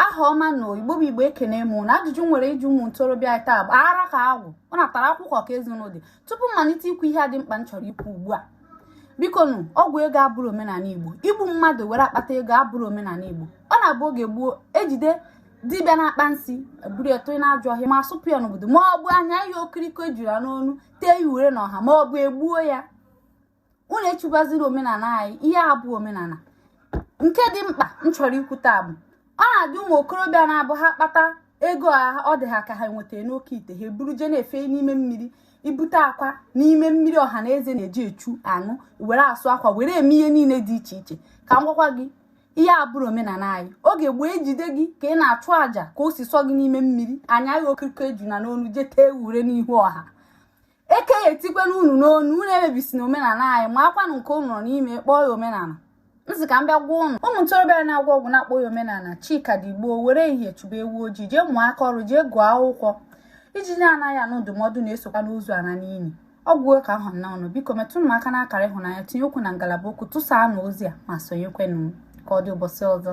aha ọma na igbo bụ igbo ekene m ụnụ ajụjụ m nwere ịjụ ụmụ ntorobịa taa bụ ara ka agwụ ọ natara akwụkwọ ka ezinụlọ dị tupu m malite ikwu ihe dị mkpa m chọrọ ikwu ugbu a biko nụ ọgwụ ego abụrọ omenala igbo igbu mmadụ were akpata ego abụrọ omenala igbo ọ na-abụ oge gboo ejide dibịa na-akpa nsị eburu ya tụnye n'ajọ ọhịa ma asụpụ ya n'obodo ma ọ bụ anya ya okiriko ejuna n'onu tee ya ure n'ọha ma ọ bụ egbuo ya unu echubaziri omenala anyị ihe a bụ omenala nke dị mkpa m chọrọ ikwu taa bụ ọ na-adị ụmụ okorobịa na-abụ ha kpata ego a ọ dị ha ka ha nwetara n'oke ite ha eburu je na-efe n'ime mmiri ibute akwa n'ime mmiri ọha na eze na-eji echu aṅụ were asụ akwa were eme ihe niile dị iche iche ka m gwakwa gị ihe a abụrọ omenala anyị oge gboo ejide gị ka ị na-achụ àjà ka o si sọ gị n'ime mmiri anya gị okiriko ejuna n'onu jee tee ure n'ihu ọha eke ya etikwela unu n'onu unu emebisina omenala anyị makwanụ nke unu nọ n'ime kpọọ ya omenala m sị ka m bịa gwa ụnụ ụmụ ntorobịa na-agwọ ọgwụ na-akpọ ya omenala chi ka dị gboo were ehihie chụba ewu ojii jee mụọ aka ọrụ jee gụọ akwụkwọ ijiji na-anaghị anụ ndụmọdụ na-esokwanụ ozu ana n'ili ọ gwụ ka ọ ha m n'ọnụ biko metụnụ m aka n'akara ịhụnanya tinye okwu na ngalaba okwu tụsaanụ ozi a ma sonyekwenụ ka ọ dị ụbọchị ọzọ